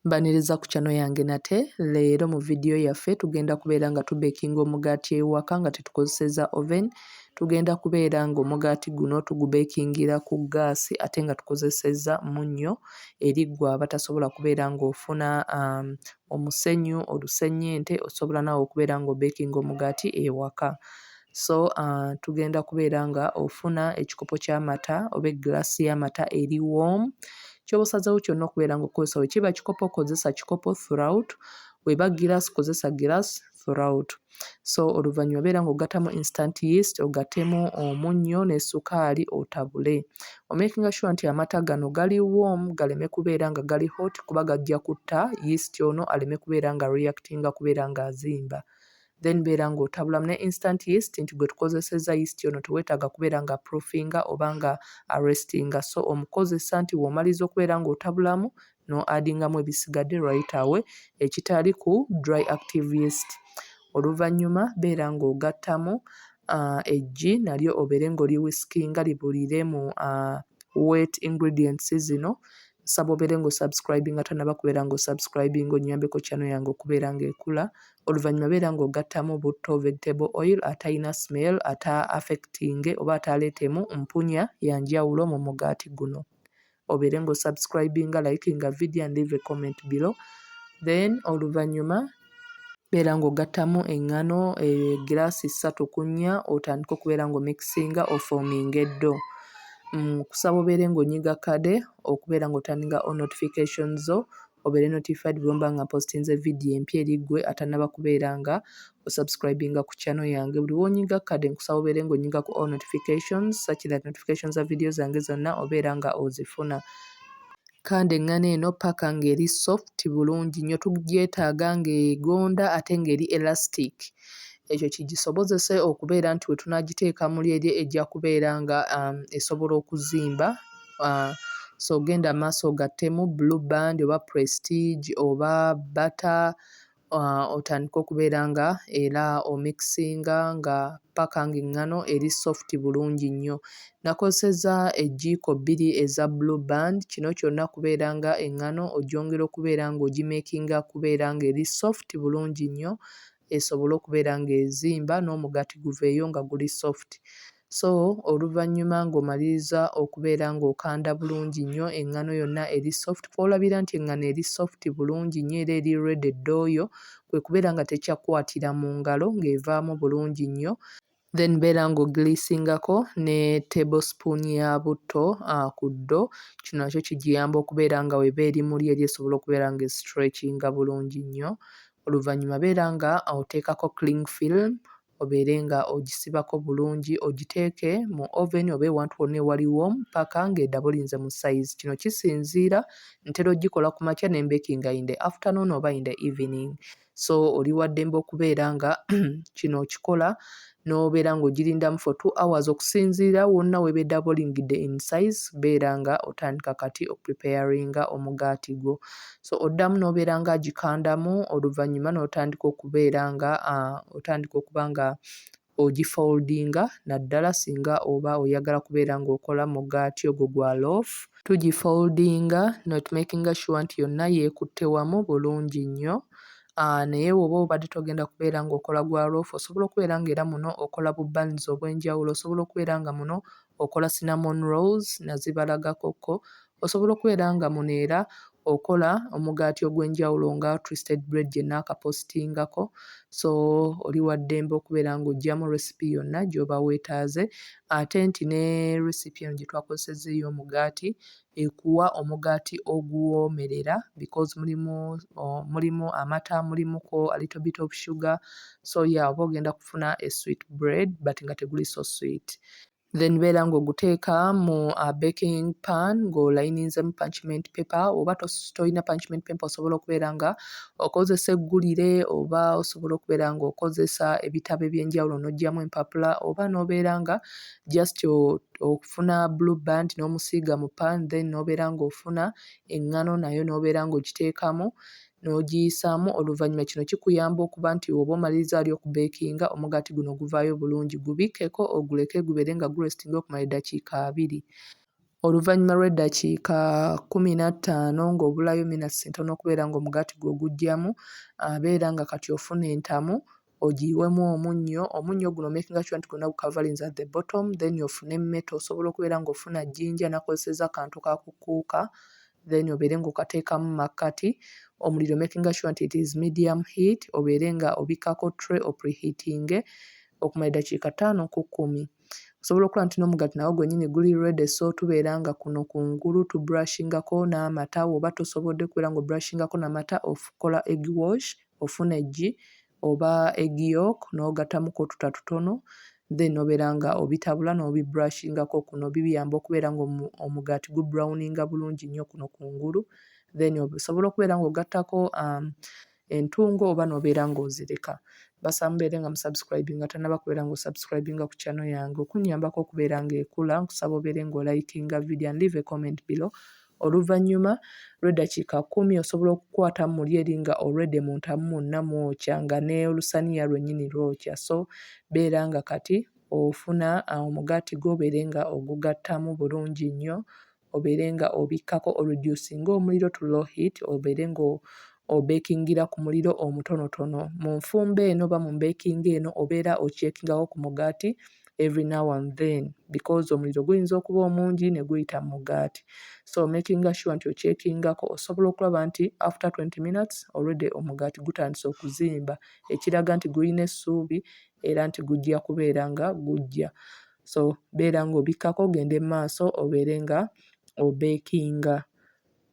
Mbaniriza ku channel yange nate, leero mu video yaffe tugenda kubeera nga tubekinga omugaati ewaka nga tetukozeseza oven, tugenda kubeera nga omugaati guno tugubekingira ku gaasi ate nga tukozeseza munnyo eri gwe abatasobola kubeera nga ofuna um, omusenyu, olusenyente, osobola naawe okubeera nga obekinga omugaati ewaka. so uh, tugenda kubeera nga ofuna ekikopo ky'amata oba egilasi y'amata eri warm kyoba osazeewo kyonna okubeera nga okukozesa we kiba kikopo kozesa kikopo throughout weba gilasi kozesa gilasi throughout so oluvannyuma beera nga ogattamu instant yeast ogatemu omunnyo ne sukaali otabule omakinga sure nti amata gano gali warm galeme kubeera nga gali hot kuba gajja kutta yeast ono aleme kubeera nga reactinga kubeera nga azimba then beera ng'otabulamu ne instant yeast nti gwe tukozesezza yeast ono teweetaaga kubeera nga proofinga oba nga arrestinga so omukozesa nti w'omaliza okubeera ng'otabulamu no adingamu ebisigadde right away ekitali ku dry active yeast. Oluvannyuma beera ng'ogattamu uh, eggi nalyo obeere ng'oli whiskinga libulire mu uh, wet ingredients zino nsaba obeere ng'osubscribinga tanaba kubeera ng'osubscribinga onnyambeko channel yange okubeera ng'ekula oluvannyuma beera ng'ogattamu butto, vegetable oil, atalina smell, ata affecting oba ataaleetemu mpunya ya njawulo mu mugaati guno. Obeere ng'o subscribinga, likinga video and leave a comment below. Then oluvannyuma beera ng'ogattamu eŋŋano egiraasi eh, ssatu ku nnya otandike okubeera ng'omikisinga ofoominga eddo. Mm, kusaba obeere ng'onyiga kade okubeera ng'otandinga o notification zo obeere notified bwemba nga mpostinze video empya eri gwe atanaba kubeera nga o subscribinga ku channel yange buli wonyiga kade nkusaba obeere nga onyiga ku all notifications such that notifications za video zange zonna obeera nga ozifuna kandi eŋŋana eno paka ng'eri soft bulungi nnyo tugyetaaga ng'egonda ate ng'eri elastic ekyo kigisobozese okubeera nti we tunaagiteeka muli eri ejja kubeera nga um, esobola okuzimba uh, so genda maaso ogattemu blue band oba prestige oba bata uh, otandike okubeera nga era omixinga nga paka nga eŋŋano eri soft bulungi nnyo nakozeseza ejjiiko bbiri eza blue band kino kyonna kubeera nga eŋŋano ogyongera okubeera nga ogimekinga kubeera nga eri soft bulungi nnyo esobole okubeera ng'ezimba n'omugaati guveeyo nga guli soft So oluvannyuma ng'omaliriza okubeera ng'okanda bulungi nnyo eŋŋano yonna eri soft, kw'olabira nti eŋŋano eri soft bulungi nnyo era eri ready ddooyo, kwe kubeera nga tekyakwatira mu ngalo ng'evaamu bulungi nnyo, then beera ng'ogiriisingako ne table spoon ya butto ku ddo, kino nakyo kigiyamba okubeera nga w'eba eri muli eri esobole okubeera ng'esitrekinga bulungi nnyo, oluvannyuma beera nga oteekako cling film obeere nga ogisibako bulungi ogiteeke mu oven oba ewantu wonna ewali warm paka nga edaba olinze mu size kino kisinziira ntera ogikola ku makya ne mbekinga in the afternoon oba in the evening so oli waddembe okubeera nga kino okikola n'obeera ng'ogirindamu for two hours okusinziira wonna weba edaba olingidde in size beera nga otandika kati okupreparinga omugaati gwo so oddamu n'obeera nga agikandamu oluvannyuma n'otandika okubeera nga otandika okuba nga ogifoldinga naddala singa oba oyagala kubeera ng'okola mugaati ogwo gwa loof tugifoldinga notmakinga sure nti yonna yeekutte wamu bulungi nnyo naye woba obadde togenda kubeera ng'okola gwa loof osobola okubeera ng'era muno okola bu bans obw'enjawulo osobola okubeera nga muno okola cinnamon rolls nazibalagako kko osobola okubeera nga muno era okola omugaati ogwenjawulo nga twisted bread gyenakapositingako so oli waddembe okubeera nga ojjamu recipe yonna gyoba wetaaze ate nti ne recipe eno gyetwakozesezza ey'omugaati ekuwa omugaati oguwoomerera because mulimu oh mulimu amata mulimuko a little bit of sugar so yeah oba ogenda kufuna a sweet bread but nga teguli so sweet. Then beera ng'oguteeka mu a baking pan ng'olayininzemu parchment paper oba tolina parchment paper osobola okubeera nga okozesa eggulire oba osobola okubeera ng'okozesa ebitabo eby'enjawulo n'oggyamu empapula oba n'obeera nga just oh ofuna blue band n'omusiiga mu pan then n'obeera ng'ofuna eŋŋano nayo n'obeera ng'ogiteekamu n'ogiyisaamu oluvannyuma kino kikuyamba okuba nti woba omaliriza wali okubeekinga omugaati guno guvaayo bulungi gubikkeko oguleke gubeere nga guresitinga okumala eddakiika abiri oluvannyuma lw'eddakiika kkumi na ttaano ng'obulayo minatisi ntono okubeera ng'omugaati gwo guggyamu abeera nga kati ofuna entamu ogiyiwemu omunnyo, omunnyo guno omakinga sure nti gwonna gu coverings at the bottom then ofune emmete osobola okubeera ng'ofuna jjinja nakozesezza akantu ka ku kuuka then obeere ng'okateekamu makkati, omuliro omakinga sure nti it is medium heat obeere nga obikkako tray o pre-heatinge okumala eddakiika ttaano ku kkumi. Osobola okulaba nti n'omugaati nagwo gwennyini guli ready so tubeera nga kuno ku ngulu tu brushingako n'amata woba tosobodde kubeera ng'o brushingako na mata okola egg wash ofuna eggi oba egg yolk n'ogattamu ku otuta tutono then obeera nga obitabula n'obibrashingako kuno bibiyamba okubeera nga omugaati gu browninga bulungi nnyo kuno kungulu then osobola okubeera ng'ogattako um, entungo oba n'obeera ng'ozireka basa mubeere nga musubscribinga tanaba kubeera ng'osubscribinga ku channel yange okunnyambako okubeera ng'ekula nkusaba obeere ng'olikinga video and leave a comment below Oluvannyuma lw'eddakiika kkumi osobola okukwata muli eri nga already mu ntamu mwonna mwokya nga n'olusaniya lwennyini lwokya so beera nga kati ofuna omugaati gwo obeere nga ogugattamu bulungi nnyo obeere nga obikkako oreducinge omuliro to low heat obeere nga obeekingira ku muliro omutonotono. Mu nfumba eno oba mu mbeekinga eno obeera okyekingako ku mugaati. every now and then because omuliro guyinza okuba omungi ne guyita mu mugaati so makinga sure nti okyekingako osobola okulaba nti after 20 minutes already omugaati gutandise okuzimba ekiraga nti gulina essuubi era nti gujja kubeera nga gujja so beera ng'obikkako ogende mu maaso obeere nga obeekinga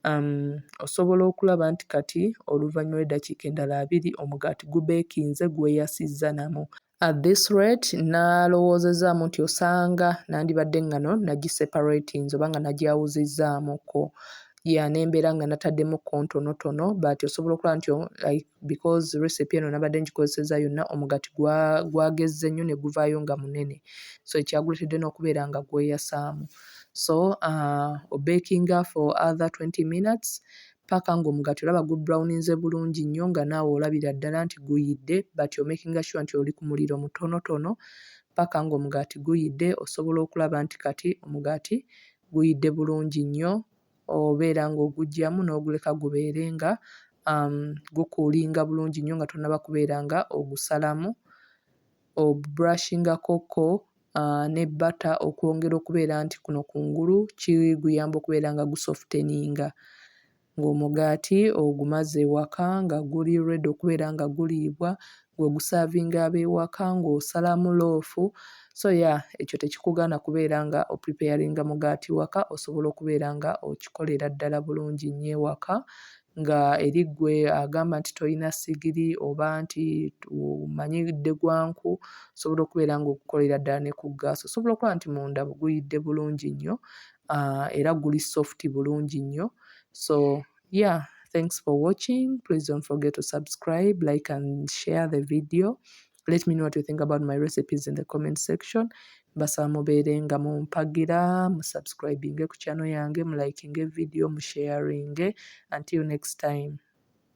um, osobola okulaba nti kati oluvannyuma lw'eddakiika endala abiri omugaati gubeekinze gweyasizza namu At this rate nalowoozezzaamu nti osanga nandibadde ngano nagiseparatinze oba nga nagyawuzizzaamukko ya nembeera nga nataddemu kontonotono but osobola okulaba nti like because recipe eno nabadde ngikozeseza yonna omugati gwagezze nnyo ne guvaayo nga munene so ekyaguletedde n'okubeera nga gweyasaamu so uh, obakinga for other 20 minutes paka nga omugati olaba gu browninze bulungi nnyo nga naawe olabira ddala nti guyidde but you're making sure nti oli ku muliro mutonotono paka nga omugati guyidde osobola okulaba nti kati omugati guyidde bulungi nnyo obeera nga ogugyamu n'oguleka gubeere nga um, gukuulinga bulungi nnyo nga tonaba kubeera nga ogusalamu obubrashingako ko ne bata okwongera okubeera nti kuno kungulu kiguyamba okubeera nga gusofteninga ng'omugaati ogumaze ewaka nga guli ready okubeera nga guliibwa ng'ogusavinga ab'ewaka ng'osalamu loofu so ya ekyo tekikugaana kubeera nga opripeyaringa mugaati waka osobola okubeera nga okikolera ddala bulungi nnyo ewaka nga eri ggwe agamba nti tolina ssigiri oba nti omanyi dde gwa nku, osobola okubeera ng'ogukolera ddala ne ku ggaasi. Osobola okulaba nti munda guyidde bulungi nnyo ah, era guli soft bulungi nnyo. So yeah, thanks for watching. Please don't forget to subscribe, like and share the video. let me know what you think about my recipes in the comment section mbasaba mubeere nga mumpagira musubscribinge ku channel yange mulikinge video musharinge until next time